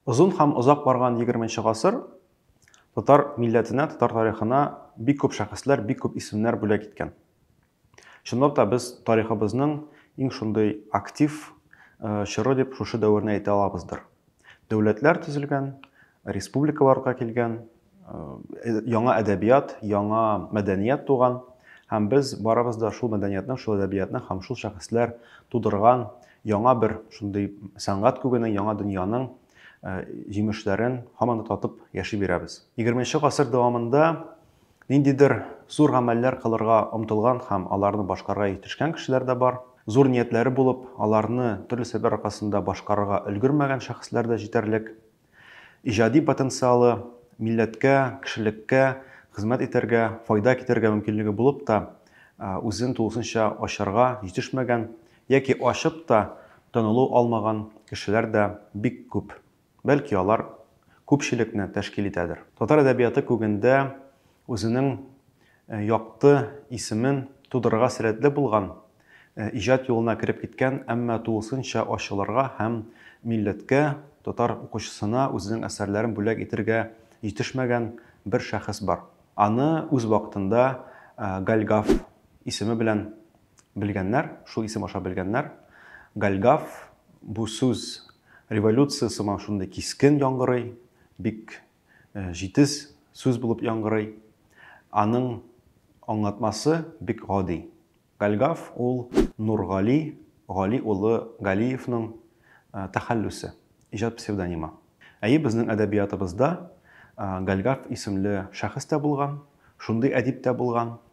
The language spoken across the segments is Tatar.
Озын һәм озак барган 20 нче гасыр татар милләтенә, татар тарихына бик күп шәхесләр, бик күп исемнәр бүләк иткән. Чынлап та без тарихыбызның иң шундый актив э, чоры дип шушы дәверне әйтә алабыздыр. Дәүләтләр төзелгән, республикаларга килгән, э, яңа әдәбият, яңа мәдәният туган. Һәм без барыбыз да шул мәдәниятны, шул әдәбиятны һәм шул шәхесләр тудырган яңа бер шундый сәнгать күгенең, яңа дөньяның э, җимешләрен һаман да татып яши бирәбез. 20 гасыр дәвамында Ниндидер зур гамәлләр кылырга омтылган һәм аларны башкарырга җитешкән кешеләр дә бар. Зур ниятләре булып, аларны төрле сәбәпләр аркасында башкарырга өлгермәгән шәхесләр дә җитәрлек. Иҗади потенциалы, милләткә, кешелеккә хезмәт итәргә, файда китерергә мөмкинлеге булып та, үзен тулысынча ачарга җитешмәгән яки ачып та танылу алмаган кешеләр дә бик күп. Бәлки алар күпчелекне тәшкил итәдер. Татар әдәбияты күгендә үзенең якты исемен тудырырга сәләтле булган, иҗат юлына кереп киткән, әмма тулысынча ачылырга һәм милләткә, татар укучысына үзенең әсәрләрен бүләк итергә җитешмәгән бер шәхес бар. Аны үз вакытында Гальгаф исеме белән Белгәннәр, шул исем аша белгәннәр. Гальгаф, бу сүз революция сыман шундый кискен яңгырый, бик җитез сүз булып яңгырый. Аның аңлатмасы бик гади. Гальгаф ул Нургали, Гали улы Галиевның тәхәллүсе, иҗат псевдонимы. Әйе, безнең әдәбиятыбызда Гальгаф исемле шәхес тә булган, шундый әдип тә булган.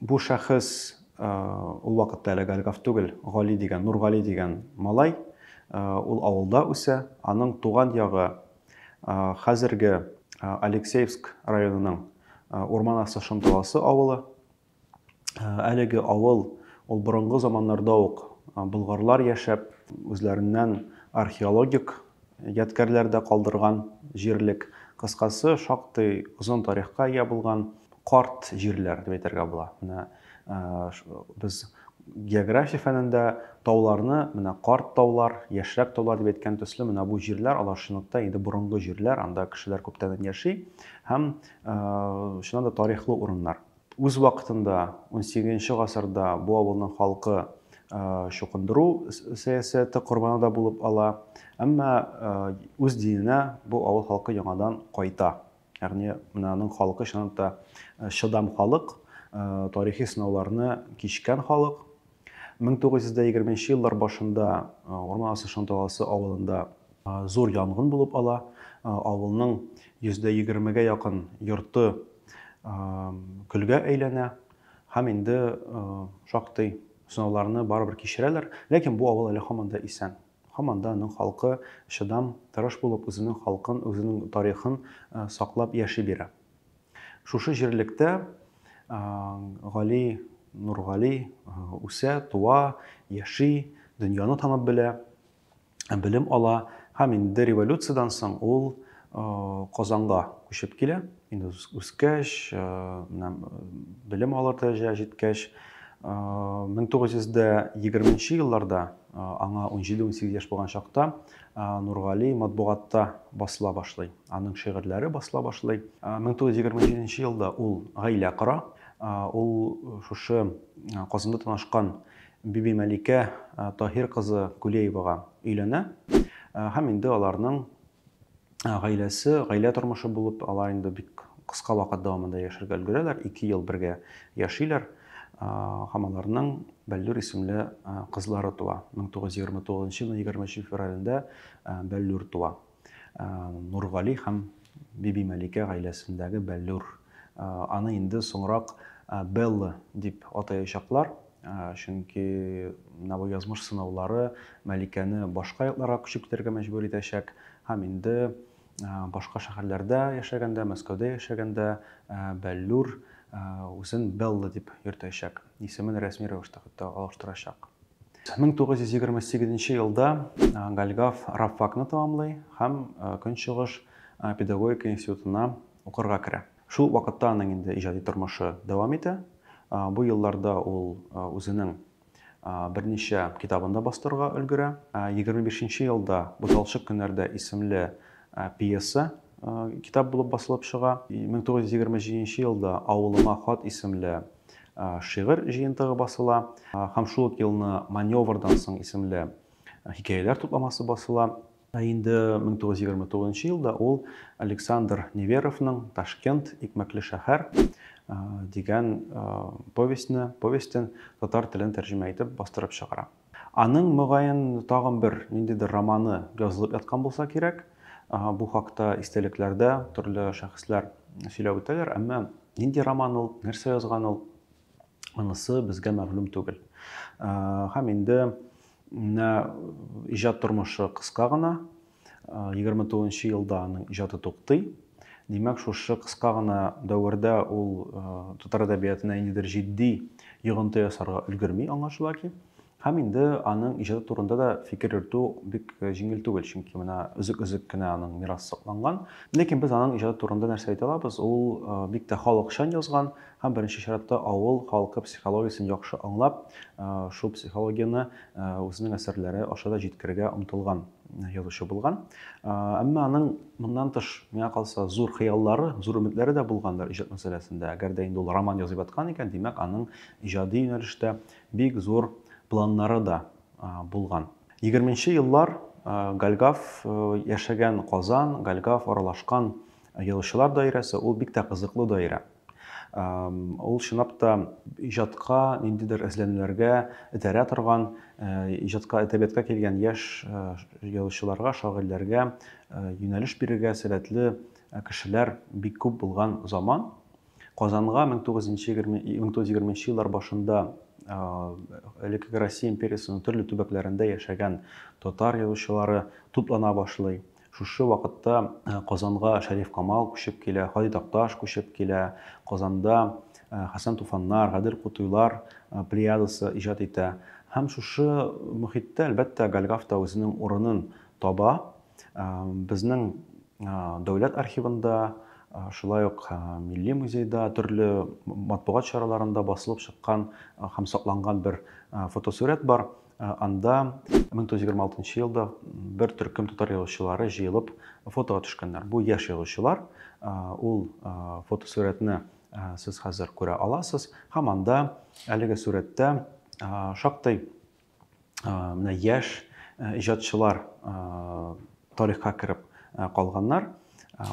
Бу шәхес, ул вакытта әле Гальгав түгел, Гали дигән, Нургали дигән малай, ул авылда үсә, аның туган ягы хәзерге Алексеевск районының Урман асты Шымталасы авылы. Әлеге авыл, ул борынгы заманнарда ук болгарлар яшәп, үзләреннән археологик Ядкәрләр дә калдырган җирлек. Кыскасы, шактый озын тарихка ия булган карт җирләр дип әйтергә була. Менә без география фәнендә тауларны менә карт таулар, яшьрәк таулар дип әйткән төсле, менә бу җирләр алар чынлыкта инде борынгы җирләр, анда кешеләр күптәннән яши һәм чыннан да тарихлы урыннар. Үз вакытында унсигезенче гасырда бу авылның халкы чукындыру сәясәте корбаны да булып ала. Әмма үз диненә бу авыл халкы яңадан кайта. Ягъни менә аның халкы чынлыкта чыдам халык, тарихи сынауларны кичкән халык. 1920 нче еллар башында Урман асты Шанталасы авылында зур янгын булып ала. Авылның йөздә егермегә якын йорты көлгә әйләнә һәм инде шактый сынауларны барыбер кичерәләр, ләкин бу авыл әле һаман да исән. Һаман да аның халкы чыдам, тырыш булып, үзенең халкын, үзенең тарихын саклап яши бирә. Шушы җирлектә Гали Нургали үсә, туа, яши, дөньяны танып белә, белем ала һәм инде революциядән соң ул Казанга күчеп килә. Инде үскәч, белем алыр дәрәҗәгә җиткәч, 1920 елларда аңа 17-18 яшь булган чакта Нургали матбугатта басыла башлый. Аның шигырьләре басыла башлый. 1927 елда ул гаилә кора. Ул шушы Казанда танышкан Бибимәликә Таһир кызы Кулеевага өйләнә. Һәм инде аларның гаиләсе, гаилә тормышы булып, алар инде бик кыска вакыт дәвамында яшәргә өлгерәләр, ике ел бергә яшиләр. Һәм аларның Бәллүр исемле кызлары туа. 1929 елның 23 февралендә Бәллүр туа. Нургали һәм Бибимәликә гаиләсендәге Бәллүр. Аны инде соңрак Белла дип атаячаклар, чөнки Навы язмыш сынаулары Мәликәне башка якларга күчеп китәргә мәҗбүр итәчәк һәм инде башка шәһәрләрдә яшәгәндә, Мәскәүдә яшәгәндә Бәллүр үзен Белла дип йөртәчәк, исемен рәсми рәвештә хәтта алыштырачак. 1928 елда Гальгав рабфакны тәмамлый һәм Көнчыгыш педагогика институтына укырга керә. Шул вакытта аның инде иҗади тормышы дәвам итә. Бу елларда ул үзенең берничә китабын да бастырырга өлгерә. 25 нче елда Буталчык көннәрдә исемле пьеса китап булып басылып чыга. 1927 елда Авылыма хат исемле шигырь җыентыгы басыла һәм шул ук елны Маневрдан соң исемле хикәяләр тупламасы басыла. Ә инде 1929 елда ул Александр Неверовның Ташкент, икмәкле шәһәр дигән повестьны, повестен татар телен тәрҗемә итеп бастырып чыгара. Аның, мөгаен, тагын бер ниндидер романы язылып яткан булса кирәк. Бу хакта истәлекләрдә төрле шәхесләр сөйләп үтәләр, әмма нинди роман ул, нәрсә язган ул, монысы безгә мәгълүм түгел. Һәм инде менә иҗат тормышы кыска гына. 29 елда аның иҗаты туктый. Димәк, шушы кыска гына дәвердә ул татар әдәбиятына ниндидер җитди йогынты ясарга өлгерми аңлашыла ки. Һәм инде аның иҗаты турында да фикер йөртү бик җиңел түгел, чөнки менә өзек-өзек кенә аның мирасы сакланган. Ләкин без аның иҗаты турында нәрсә әйтә алабыз? Ул бик тә халыкчан язган һәм беренче чиратта авыл халкы психологиясен яхшы аңлап, шул психологияне Үзенең әсәрләре аша да җиткерергә омтылган язучы булган. Әмма аның моннан тыш, миңа калса, зур хыяллары, зур өметләре дә булгандыр иҗат мәсьәләсендә. Әгәр дә инде ул роман язып аткан икән, димәк, аның иҗади юнәлештә бик зур планнары да булган. 20 еллар Гальгав яшәгән Казан, Гальгав аралашкан язучылар даирәсе, ул бик тә кызыклы даирә. Ул чынлап та иҗатка, ниндидер эзләнүләргә этәрә торган, иҗатка, әдәбиятка килгән яшь язучыларга, шагыйрьләргә юнәлеш бирергә сәләтле кешеләр бик күп булган заман. Казанга 1920 еллар башында элеккеге Россия империясының төрле төбәкләрендә яшәгән татар язучылары туплана башлый. Шушы вакытта Казанга Шәриф Камал күчеп килә, Һади Такташ күчеп килә, Казанда Хәсән Туфаннар, Гадел Кутуйлар плеядасы иҗат итә. Һәм шушы мохиттә, әлбәттә, Гальгаф та үзенең урынын таба. Безнең дәүләт архивында, шулай ук милли музейда, төрле матбугат чараларында басылып чыккан һәм сакланган бер фотосурәт бар. Анда 1926 елда бер төркем татар язучылары җыелып фотога төшкәннәр. Бу яшь язучылар. Ул фотосурәтне сез хәзер күрә аласыз. Һәм анда әлеге сурәттә шактый менә яшь иҗатчылар тарихка кереп калганнар.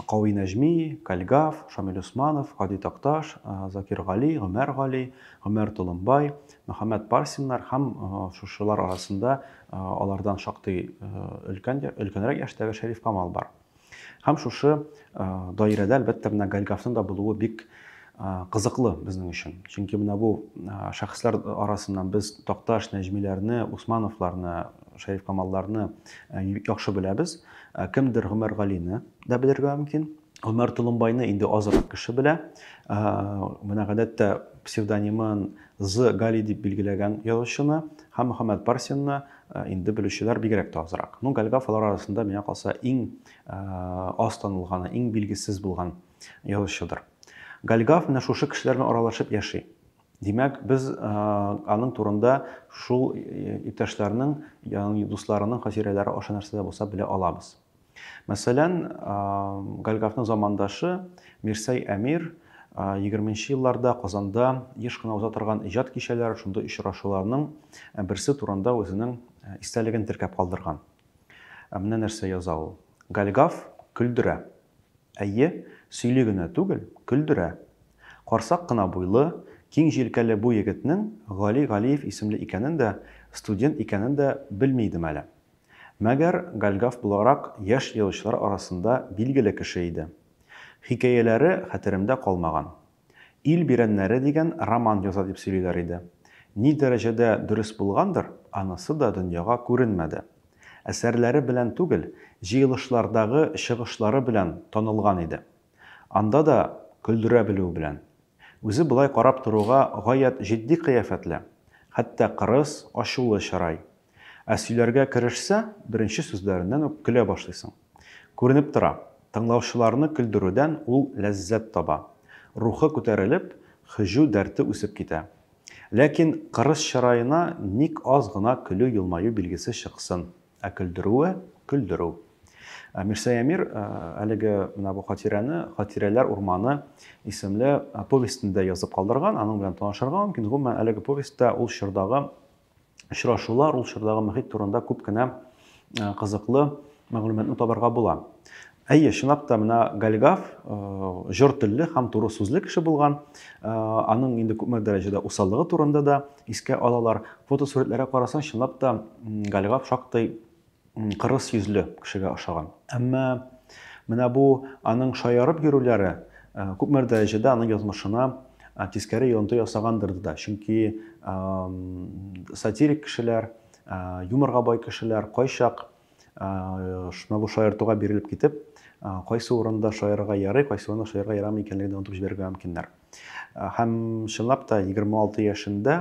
Кави Нәҗми, Кальгав, Шамил Усманов, Һади Такташ, Закир Гали, Гомәр Гали, Гомәр Толымбай, Мөхәммәд Парсиннар һәм шушылар арасында алардан шактый өлкән, өлкәнрәк яшьтәге Шәриф Камал бар. Һәм шушы даирәдә, әлбәттә, менә Гальгавның да булуы бик кызыклы безнең өчен. Чөнки менә бу шәхесләр арасыннан без Такташ, Нәҗмиләрне, Усмановларны, Шәриф Камалларны яхшы беләбез. Ә кемдер Гомәргалине дә белергә мөмкин. Гомәр Толымбайны инде азрак кеше белә. Ә, менә гадәттә псевдонимын З. Гали дип билгеләгән язучыны һәм Мөхәммәд Парсинны ә, инде белүчеләр бигрәк тә азрак. Ну, Гальгав алар арасында, миңа калса, иң ә, аз танылганы, иң билгесез булган язучыдыр. Гальгав менә шушы кешеләр белән аралашып яши. Димәк, без аның турында шул иптәшләрнең, ягъни дусларының хатирәләре аша нәрсә дә булса белә алабыз. Мәсәлән, Гальгафның замандашы Мирсәй Әмир 20 елларда Казанда еш кына уза торган иҗат кичәләре, шундый очрашуларның берсе турында үзенең истәлеген теркәп калдырган. Ә менә нәрсә яза ул. Гальгаф көлдерә. Әйе, сөйли генә түгел, көлдерә. Карсак кына буйлы, киң җилкәле бу егетнең Гали Галиев исемле икәнен дә, студент икәнен дә белми идем әле. Мәгәр Гальгаф буларак яшь язучылар арасында билгеле кеше иде. Хикәяләре хәтеремдә калмаган. Ил бирәннәре дигән роман яза дип сөйлиләр иде. Ни дәрәҗәдә дөрес булгандыр, анысы да дөньяга күренмәде. Әсәрләре белән түгел, җыелышлардагы чыгышлары белән танылган иде. Анда да көлдерә белүе белән. Үзе болай карап торуга гаять җитди кыяфәтле, хәтта кырыс, ачулы чырай. Ә сөйләргә керешсә, беренче сүзләреннән үк көлә башлыйсың. Күренеп тора, тыңлаучыларны көлдерүдән ул ләззәт таба. Рухы күтәрелеп, һөҗү дәрте үсеп китә. Ләкин кырыс чыраена ник аз гына көлү-елмаю билгесе чыксын, ә көлдерүе, көлдерү. Мирсәямир әлеге менә бу хатирәне Хатирәләр урманы исемле повестендә язып калдырган, аның белән танышырга мөмкин. Гомумән, әлеге повестьта ул чордагы очрашулар, ул чордагы мөхит турында күп кенә кызыклы мәгълүматны табарга була. Әйе, чынлап та менә Гальгав җор телле һәм туры сүзле кеше булган. Аның инде күпме дәрәҗәдә усаллыгы турында да искә алалар. Фотосурәтләргә карасаң, чынлап та Гальгав шактый кырыс йөзле кешегә ошаган. Әмма менә бу аның шаярып йөрүләре күпмер дәрәҗәдә аның язмышына тискәре йонты ясагандыр да. Чөнки сатирик кешеләр, юморга бай кешеләр кайчак шуна бу шаяртуга бирелеп китеп, кайсы урында шаярырга ярый, кайсы урында шаярырга ярамый икәнлеген онытып җибәрергә мөмкиннәр. Һәм чынлап та 26 яшендә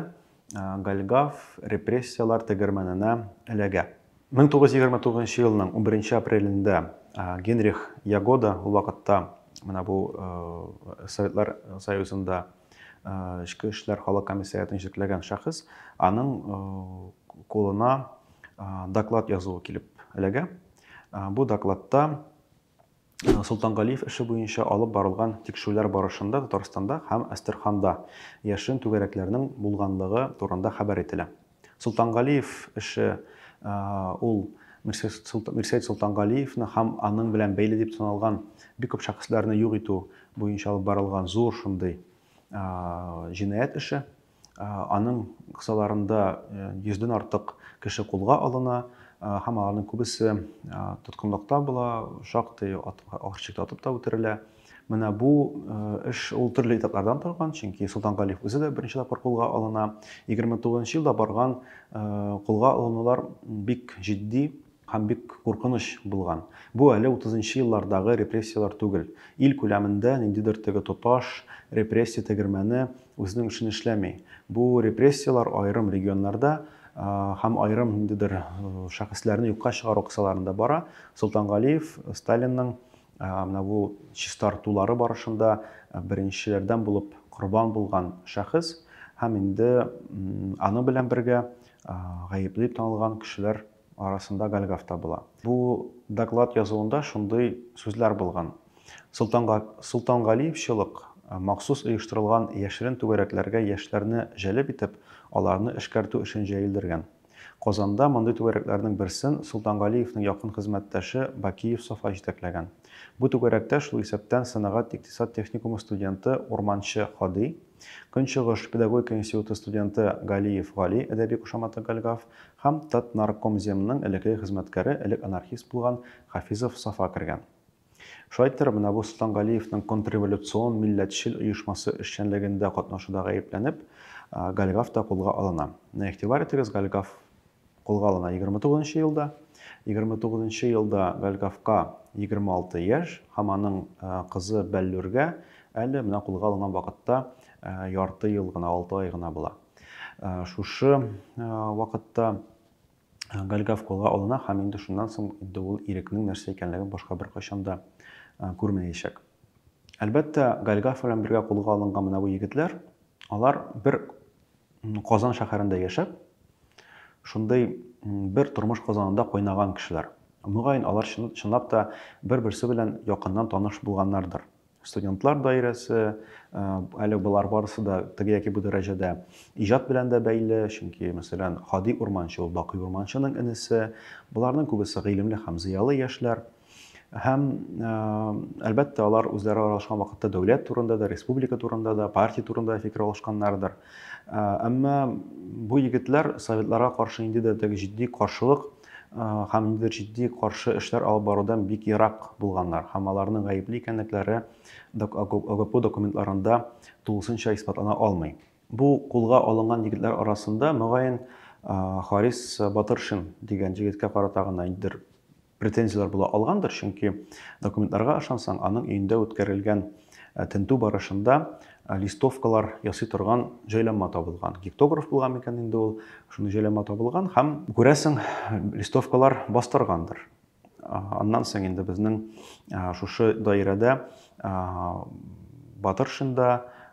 Гальгав репрессияләр тегермәненә эләгә. 1929 елның 11 апрелендә Генрих Ягода, ул вакытта менә бу Советлар Союзында эчке эшләр халык комиссариатын җитәкләгән шәхес, аның кулына доклад язуы килеп эләгә. Бу докладта Солтангалиев эше буенча алып барылган тикшерүләр барышында Татарстанда һәм Әстерханда яшерен түгәрәкләрнең булганлыгы турында хәбәр ителә. Солтангалиев эше ул Мирсәет Солтангалиевны һәм аның белән бәйле дип саналган бик күп шәхесләрне юк итү буенча алып барылган зур шундый җинаять эше. Аның кысаларында йөздән артык кеше кулга алына һәм аларның күбесе тоткынлыкта була, шактый арчыкта атып та үтерелә. Менә бу эш ул төрле этаплардан торган, чөнки Солтан Галиев үзе дә беренче тапкыр кулга алына. 29 елда барган кулга алынулар бик җитди, Һәм бик куркыныч булган. Бу әле утызынчы еллардагы репрессияләр түгел. Ил күләмендә ниндидер теге тоташ репрессия тегермәне үзенең эшен эшләми. Бу репрессияләр аерым регионнарда һәм аерым ниндидер шәхесләрне юкка чыгару кысаларында бара. Солтангалиев Сталинның менә бу чистартулары барышында беренчеләрдән булып корбан булган шәхес һәм инде аның белән бергә гаепле дип танылган кешеләр арасында Гальгаф табыла. Бу доклад язуында шундый сүзләр булган, Солтанга, Солтангалиевчылык махсус оештырылган яшерен түгәрәкләргә яшьләрне җәлеп итеп, аларны эшкәртү эшен җәелдергән. Казанда мондый түгәрәкләрнең берсен Солтангалиевнең якын хезмәттәше Бакиев Сафа җитәкләгән. Бу түгәрәктә шул исәптән сәнәгать-икътисад техникумы студенты, урманчы Һади, Көнчыгыш педагогика институты студенты Галиев Гали, әдәби кушаматы Гальгав, һәм Татнаркомземның элекеге хезмәткәре, элек анархист булган Хафизов Сафа кергән. Шулай итеп, менә бу Солтан Галиевның контрреволюцион милләтчел оешмасы эшчәнлегендә катнашуда гаепләнеп, Гальгав та кулга алына. Менә игътибар итегез, Гальгав Кулга алына 29 нчы елда. 29 нчы елда Гальгавка 26 яшь һәм аның кызы Бәллүргә әле менә кулга алынган вакытта ярты ел гына, 6 ай гына була. Шушы вакытта Гальгав кулга алына һәм инде шуннан соң инде ул ирекнең нәрсә икәнлеген башка бер кайчан да күрмәячәк. Әлбәттә, Гальгав белән бергә кулга алынган менә бу егетләр, алар бер Казан шәһәрендә яшәп, шундый бер тормыш казанында кайнаган кешеләр. Мөгаен, алар чынлап та бер-берсе белән якыннан таныш булганнардыр. Студентлар даирәсе, э, әле болар барысы да теге яки бу дәрәҗәдә иҗат белән дә бәйле, чөнки, мәсәлән, Хади Урманчы ул Бакый Урманчының энесе. Боларның күбесе гыйлемле һәм зыялы яшьләр. Һәм, әлбәттә, алар үзләре аралашкан вакытта дәүләт турында да, республика турында да, партия турында да фикер алышканнардыр. Әмма бу егетләр советларга каршы инде дә теге җитди каршылык һәм инде җитди каршы эшләр алып барудан бик ерак булганнар һәм аларның гаепле икәнлекләре ОГПУ документларында тулысынча исбатлана алмый. Бу кулга алынган егетләр арасында, мөгаен, Харис Батыршин дигән җегеткә карата гына ниндидер претензияләр була алгандыр, чөнки документларга ышансаң, аның өендә үткәрелгән тентү барышында листовкалар ясый торган җайланма табылган. Гектограф булган микән инде ул, шундый җайланма табылган һәм, күрәсең, листовкалар бастыргандыр. Аннан соң инде безнең шушы даирәдә Батыршинда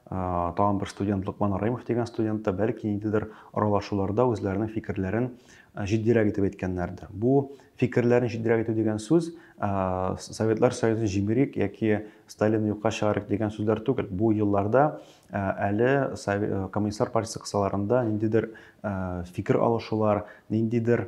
тагын бер студент Лукман Раимов дигән студент та бәлки ниндидер аралашуларда үзләренең фикерләрен җитдирәк итеп әйткәннәрдер. Бу фикерләрен җитдирәк итү дигән сүз Советлар Союзын җимерик яки Сталин юкка чыгарык дигән сүзләр түгел. Бу елларда әле коммунистлар партиясе кысаларында ниндидер фикер алышулар, ниндидер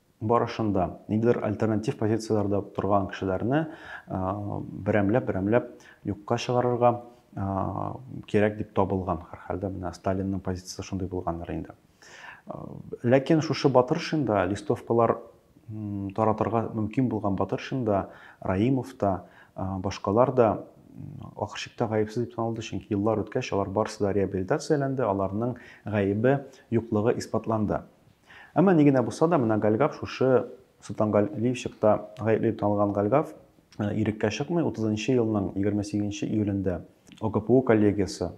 барышында ниндидер альтернатив позицияләрдә торган кешеләрне берәмләп-берәмләп юкка чыгарырга кирәк дип табылган. Һәрхәлдә менә Сталинның позициясе шундый булгандыр инде. Ләкин шушы батыршында листовкалар таратырга мөмкин булган батыршында Раимов та, башкалар да ахыр чиктә гаепсез дип танылды, чөнки еллар үткәч алар барысы да реабилитацияләнде, аларның гаебе юклыгы исбатланды. Әмма ни генә булса да, менә Гальгав шушы Солтангал Ливчыкта гаепле дип танылган Гальгав иреккә чыкмый, 30 нчы елның 28 нче июлендә ОГПУ коллегиясе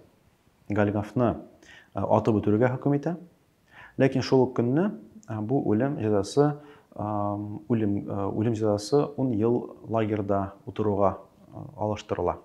Гальгавны атып үтерергә хөкем итә. Ләкин шул ук көнне бу үлем җәзасы үлем үлем җәзасы 10 ел лагерьда утыруга алыштырыла.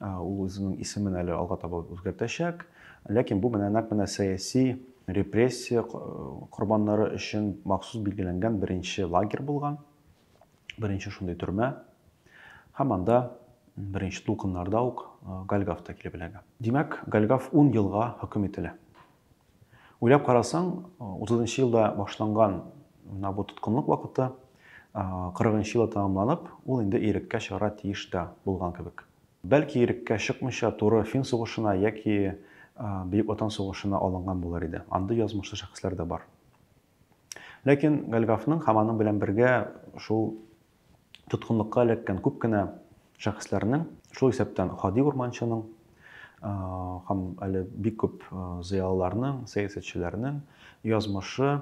Ул үзенең исемен әле алга таба үзгәртәчәк. Ләкин бу менә нәкъ менә сәяси репрессия корбаннары өчен махсус билгеләнгән беренче лагерь булган. Беренче шундый төрмә. Һәм анда беренче тулкыннарда ук Гальгаф та килеп эләгә. Димәк, Гальгаф 10 елга хөкем ителә. Уйлап карасаң, 30 нчы елда башланган менә бу тоткынлык вакыты 40 нчы елда тәмамланып, ул инде иреккә чыгара тиеш тә булган кебек. Бәлки иреккә чыкмыйча туры Фин сугышына яки Бөек Ватан сугышына алынган булыр иде. Андый язмышлы шәхесләр дә бар. Ләкин Гальгафның һәм аның белән бергә шул тоткынлыкка эләккән күп кенә шәхесләрнең, шул исәптән Һади Урманчының һәм әле бик күп зыялыларның, сәясәтчеләрнең язмышы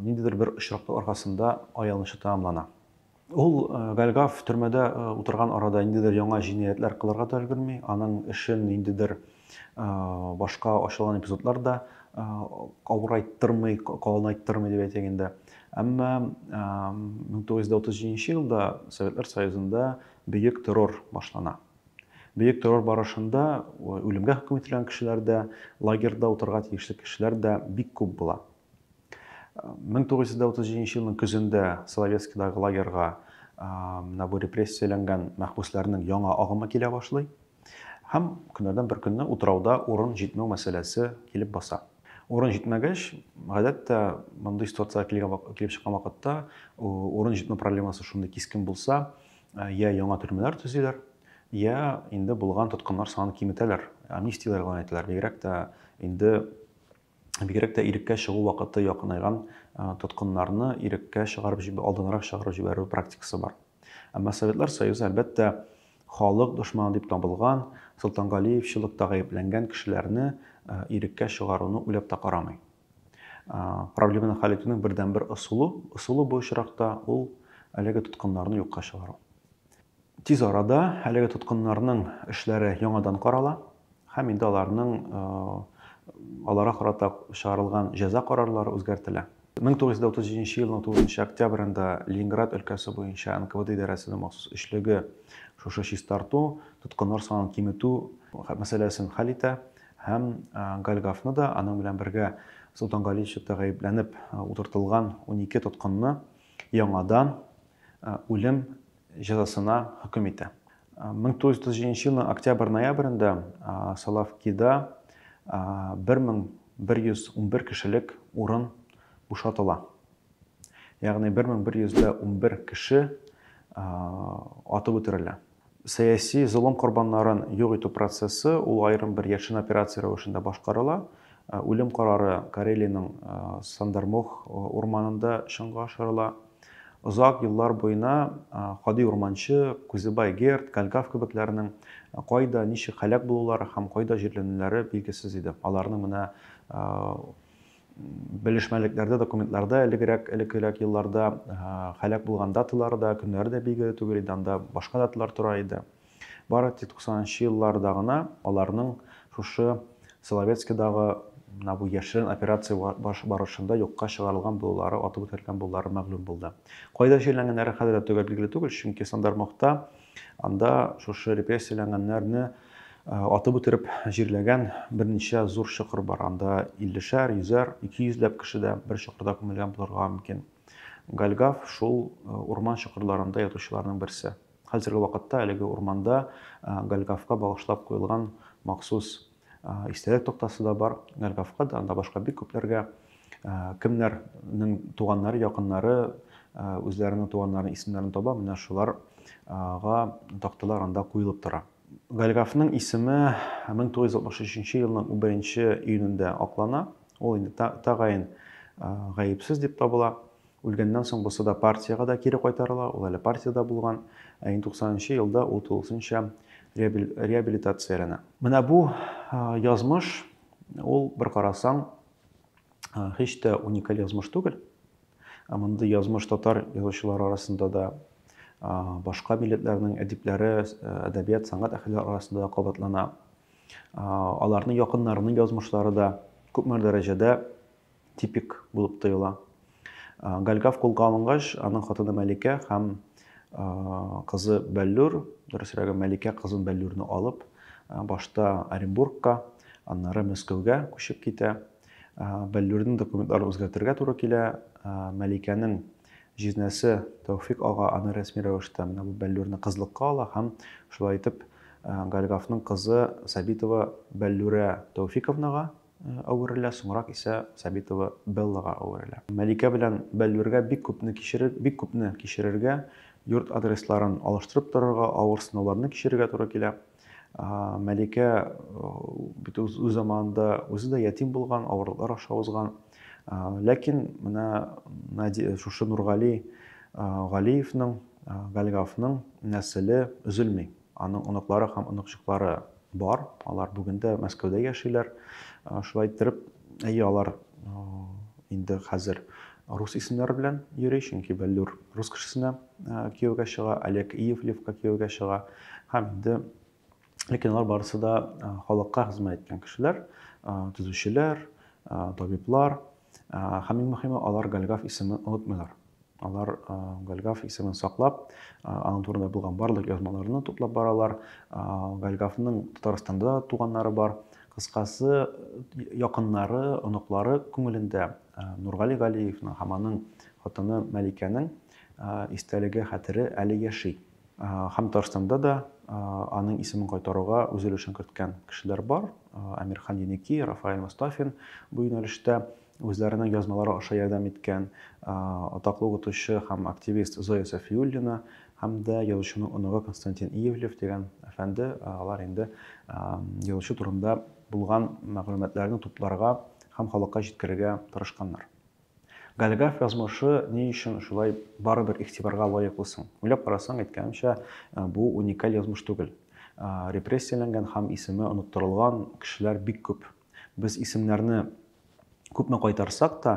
ниндидер бер очрактың аркасында аялынча тәмамлана. Ул Гальгав төрмәдә утырган арада ниндидер яңа җинаятьләр кылырга да өлгерми, аның эшен ниндидер башка ачылган эпизодлар да авырайттырмый, калынайттырмый дип әйтик инде. Әмма 1937 елда Советлар Союзында бөек террор башлана. Бөек террор барышында үлемгә хөкем ителгән кешеләр дә, лагерьда утырга тиешле кешеләр дә бик күп була. 1937 елның көзендә Соловецкидагы лагерьга менә бу репрессияләнгән мәхбүсләрнең яңа агымы килә башлый. Һәм көннәрдән бер көнне утрауда урын җитмәү мәсьәләсе килеп баса. Урын җитмәгәч, гадәттә мондый ситуацияләр килеп чыккан вакытта урын җитмәү проблемасы шундый кискен булса, я яңа төрмәләр төзиләр, я инде булган тоткыннар санын киметәләр, амнистияләр игълан ителәр. Бигрәк тә инде бигрәк тә иреккә чыгу вакыты якынайган тоткыннарны иреккә чыгарып җиб... алдынрак чыгарып җибәрү практикасы бар. Әмма Советлар Союзы, әлбәттә, халык дошманы дип табылган, Солтангалиевчылыкта гаепләнгән кешеләрне иреккә чыгаруны уйлап та карамый. Проблеманы хәл итүнең бердәнбер ысулы, ысулы бу очракта ул әлеге тоткыннарны юкка чыгару. Тиз арада әлеге тоткыннарның эшләре яңадан карала һәм инде аларның аларга карата чыгарылган җәза карарлары үзгәртелә. 1937 елның 9 октябрендә Ленинград өлкәсе буенча НКВД идарәсенең махсус эшлеге шушы чистарту, тоткыннар санын киметү мәсьәләсен хәл итә һәм Гальгафны да, аның белән бергә Солтан Галичевта гаепләнеп утыртылган 12 тоткынны яңадан үлем җәзасына хөкем итә. 1937 елның октябрь-ноябрендә Салавкида 1111 кешелек урын бушатыла. Ягъни 1111 кеше атып үтерелә. Сәяси золым корбаннарын юк итү процессы ул аерым бер яшен операция рәвешендә башкарыла. Үлем карары Карелиянең Сандармох урманында чынга ашырыла. Озак еллар буена Кадый Урманчы, Күзебай Герд, Калькав кебекләренең кайда, ничек һәлак булулары һәм кайда җирләнүләре билгесез иде. Аларның менә белешмәлекләрдә, документларда элегрәк, элеккерәк елларда һәлак булган даталары да, көннәре дә билгеле түгел иде, анда башка даталар тора иде. Бары тик 90 нчы елларда гына аларның шушы Соловецкидагы менә бу яшерен операция барышында юкка чыгарылган булулары, атып үтерелгән булулары мәгълүм булды. Кайда чирләнгәннәре хәзер дә төгәл билгеле түгел, чөнки Сандармохта анда шушы репрессияләнгәннәрне э, атып үтереп җирләгән берничә зур чокыр бар. Анда 50-шәр, 100-әр, 200-ләп кеше дә бер чокырда күмелгән булырга мөмкин. Гальгав шул э, урман чокырларында ятучыларның берсе. Хәзерге вакытта әлеге урманда Гальгавка багышлап куелган махсус истәлек токтасы да бар. Гальгавка да, анда башка бик күпләргә кемнәрнең туганнары, якыннары үзләренең туганнарын исемнәрен таба, менә шуларга такталар анда куелып тора. Гальгавның исеме 1963 елның 1 июнендә аклана. Ул инде тәгаен гаепсез дип табыла. Үлгәннән соң бусы да партиягә дә кире кайтарыла, ул әле партиядә булган, ә инде 90 нчы елда ул тулысынча реабилитацияләнә. Менә бу язмыш, ул, бер карасаң, һич тә уникаль язмыш түгел. Мондый язмыш татар язучылары арасында да, башка милләтләрнең әдипләре, әдәбият, сәнгать әһелләре арасында да кабатлана. Аларның якыннарының язмышлары да күпмедер дәрәҗәдә типик булып тоела. Гальгав кулга алынгач, аның хатыны Мәликә һәм кызы Бәллүр, дөресрәге Мәликә кызын Бәллүрне алып, башта Оренбургка, аннары Мәскәүгә күчеп китә. Бәллүрнең документларын үзгәртергә туры килә. Мәликәнең җизнәсе Тәүфик ага аны рәсми рәвештә менә бу Бәллүрне кызлыкка ала һәм шулай итеп Гальгавның кызы Сабитова Бәллүрә Тәүфиковнага әверелә, соңрак исә Сабитова Беллага әверелә. Мәликә белән Бәллүргә бик күпне кичерер, бик күпне кичерергә, йорт адресларын алыштырып торырга, авыр сынауларны кичерергә туры килә. Мәликә бит үз заманында үзе дә ятим булган, авырлыклар аша узган. Ләкин менә шушы Нургали Галиевның, Галгавның нәселе өзелми. Аның оныклары һәм оныкчыклары бар, алар бүген дә Мәскәүдә яшиләр. Шулай иттереп, әйе, алар инде хәзер рус исемнәре белән йөри, чөнки Бәллүр рус кешесенә кияүгә чыга, Олег Иевлевка кияүгә чыга. Һәм инде ләкин алар барысы да халыкка хезмәт иткән кешеләр, төзүчеләр, табиблар. Һәм иң мөхиме, алар Голгоф исемен онытмыйлар. Алар Голгоф исемен саклап, аның турында булган барлык язмаларны туплап баралар. Голгофның Татарстанда туганнары бар. Кыскасы, якыннары, оныклары күңелендә э, Нургали Галиевның һәм аның хатыны Мәликәнең э, истәлеге, хәтере әле яши. Һәм Татарстанда да аның исемен кайтаруга үз өлешен керткән кешеләр бар. Әмирхан Еники, Рафаэль Мостафин бу юнәлештә үзләренең язмалары аша ярдәм иткән атаклы укытучы һәм активист Зоя Сафиуллина һәм дә язучының оныгы Константин Иевлев дигән әфәнде, алар инде язучы турында булган мәгълүматларны тупларга һәм халыкка җиткерергә тырышканнар. Голиаф язмышы ни өчен шулай барыбер игътибарга лаеклы соң? Уйлап карасаң, әйткәнемчә, бу уникаль язмыш түгел. Репрессияләнгән һәм исеме оныттырылган кешеләр бик күп. Без исемнәрне күпме кайтарсак та,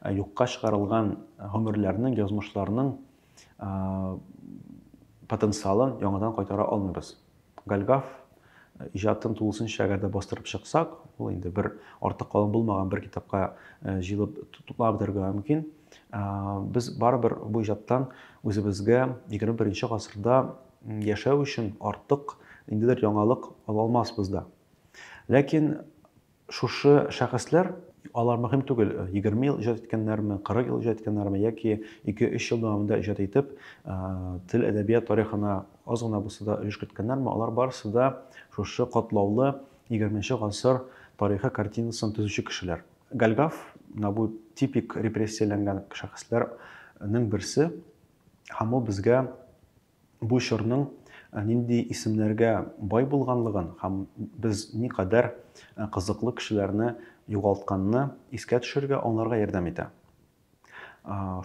юкка чыгарылган гомерләрнең, язмышларның потенциалын яңадан кайтара алмыйбыз. Гальгаф иҗатын тулысынча гәдә бастырып чыксак, ул инде бер арты калын булмаган бер китапка җыелып туплап бетерергә мөмкин. Без барыбер бу иҗаттан үзебезгә 21 гасырда яшәү өчен артык ниндидер яңалык ала алмаспыз да. Ләкин Шушы шәхесләр, алар мөһим түгел, егерме ел иҗат иткәннәрме, кырык ел иҗат иткәннәрме яки ике-өч ел дәвамында иҗат итеп, тел, әдәбият тарихына аз гына булса да өлеш керткәннәрме, алар барысы да шушы катлаулы егерменче гасыр тарихы картинасын төзүче кешеләр. Гальгаф, менә бу типик репрессияләнгән шәхесләрнең берсе, һәм ул безгә бу чорның нинди исемнәргә бай булганлыгын һәм без никадәр кызыклы кешеләрне югалтканны искә төшерергә, аңларга ярдәм итә.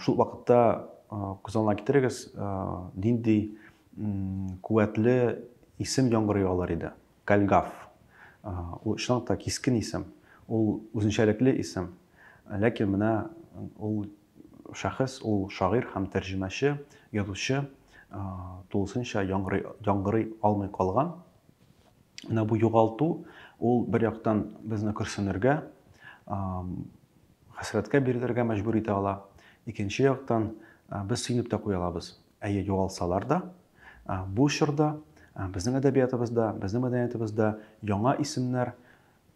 Шул вакытта күз алдына китерегез, нинди куәтле исем яңгырый алыр иде. Кальгав. Ул чынлап та кискен исем. Ул үзенчәлекле исем. Ләкин менә ул шәхес, ул шагыйрь һәм тәрҗемәче, язучы тулысынча яңгырый алмый калган. Менә бу югалту, ул бер яктан безне көрсенергә, хәсрәткә бирелергә мәҗбүр итә ала. Икенче яктан, без сөенеп тә куя алабыз. Әйе, югалсалар да, бу чорда безнең әдәбиятыбызда, безнең мәдәниятыбызда яңа исемнәр,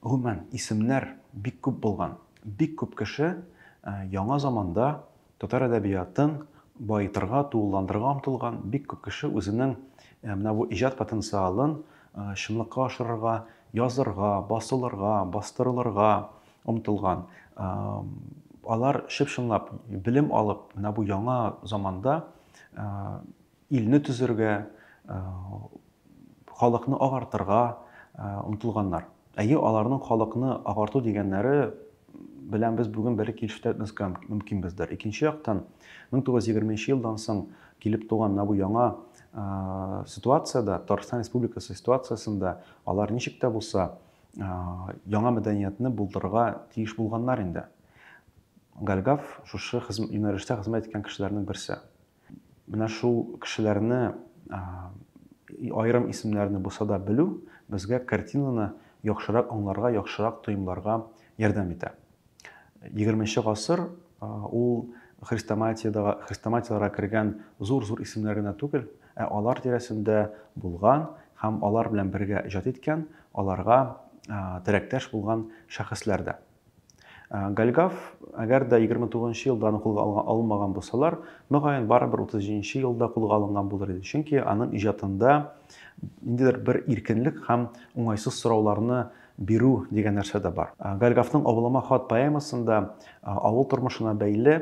гомумән, исемнәр бик күп булган. Бик күп кеше яңа заманда татар әдәбиятын баетырга, тулыландырырга омтылган, бик күп кеше үзенең менә бу иҗат потенциалын чынлыкка ашырырга, язырга, басылырга, бастырылырга, омтылган, алар чып-чынлап белем алып, менә бу яңа заманда илне төзергә, халыкны агартырга омтылганнар. Әйе, аларның халыкны агарту дигәннәре белән без бүген бәлки килешеп бетмәскә мөмкинбездер. Икенче яктан, 1920 елдан соң килеп туган менә бу яңа ситуациядә, Татарстан Республикасы ситуациясендә алар ничек тә булса яңа мәдәниятне булдырырга тиеш булганнар инде. Гальгав шушы юнәлештә хезмәт иткән кешеләрнең берсе. Менә шул кешеләрне айрым исемнәрне булса да белү безгә картинаны яхшырак аңларга, яхшырак тоемларга ярдәм итә. 20 гасыр ул хрестоматиядә хрестоматияләргә кергән зур-зур исемнәр генә түгел, ә алар тирәсендә булган һәм алар белән бергә иҗат иткән, аларга терәктәш булган шәхесләр дә. Гальгав, әгәр дә 29 елда аны кулга алынмаган булсалар, мөгаен барыбер 37 елда кулга алынган булыр иде. Чөнки аның иҗатында ниндидер бер иркенлек һәм уңайсыз сорауларны Бирү дигән нәрсә дә бар. Гальгафның Авылыма хат поэмасында авыл тормышына бәйле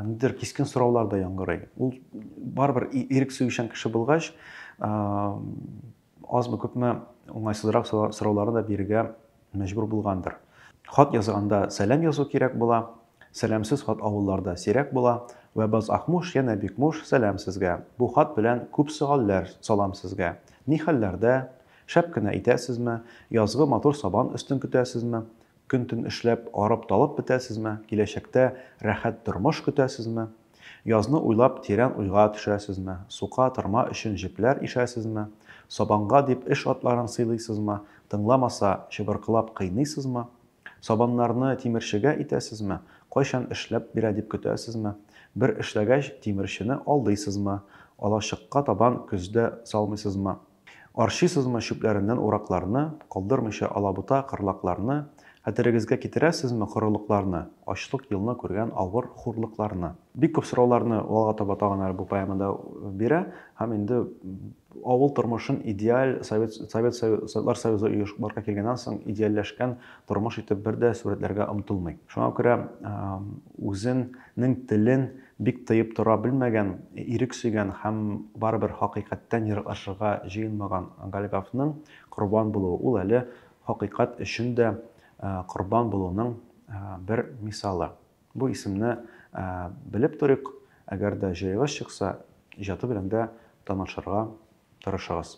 нидер кискен сораулар да яңгырый. Ул барыбер ирек сөючән кеше булгач, азмы күпме уңайсызрак сорауларны да бирергә мәҗбүр булгандыр. Хат язганда сәлам язу кирәк була, сәламсез хат авылларда сирәк була. Вәбаз Акмуш, янә бик муш, сәлам сезгә. Бу хат белән күп сөальләр салам сезгә. Ни хәлләрдә? Шәп кенә итәсезме? Язгы матур сабан өстен көтәсезме? Көн-төн эшләп, арып-талып бетәсезме? Киләчәктә рәхәт тормыш көтәсезме? Язны уйлап, тирән уйга төшәсезме? Сука, тырма өчен җепләр ишәсезме? Сабанга дип эш атларын сыйлыйсызмы? Тыңламаса, чыбыркылап кыйныйсызмы? Сабаннарны тимерчегә итәсезме? Кайчан эшләп бирә дип көтәсезме? Бер эшләгәч, тимерчене алдыйсызмы? Алачыкка табан көздә салмыйсызмы? Арчыйсызмы чүпләреннән уракларны, калдырмыйча алабута кырлакларны? Хәтерегезгә китерәсезме корылыкларны, ачлык елны күргән авыр хурлыкларны? Бик күп сорауларны алга таба тагын әле бу поэмада бирә һәм инде Авыл тормышын идеаль Совет, Совет, Советлар Союзы оеш, барга килгәннән соң идеальләшкән тормыш итеп бер дә сурәтләргә омтылмый. Шуңа күрә үзенең телен бик тыеп тора белмәгән, ирек сөйгән һәм барыбер хакыйкатьтән ераклашырга җыенмаган Гальгафның корбан булуы, ул әле хакыйкать өчен дә корбан булуның бер мисалы. Бу исемне белеп торыйк, әгәр дә җаегыз чыкса, иҗаты белән дә танышырга тырышыгыз.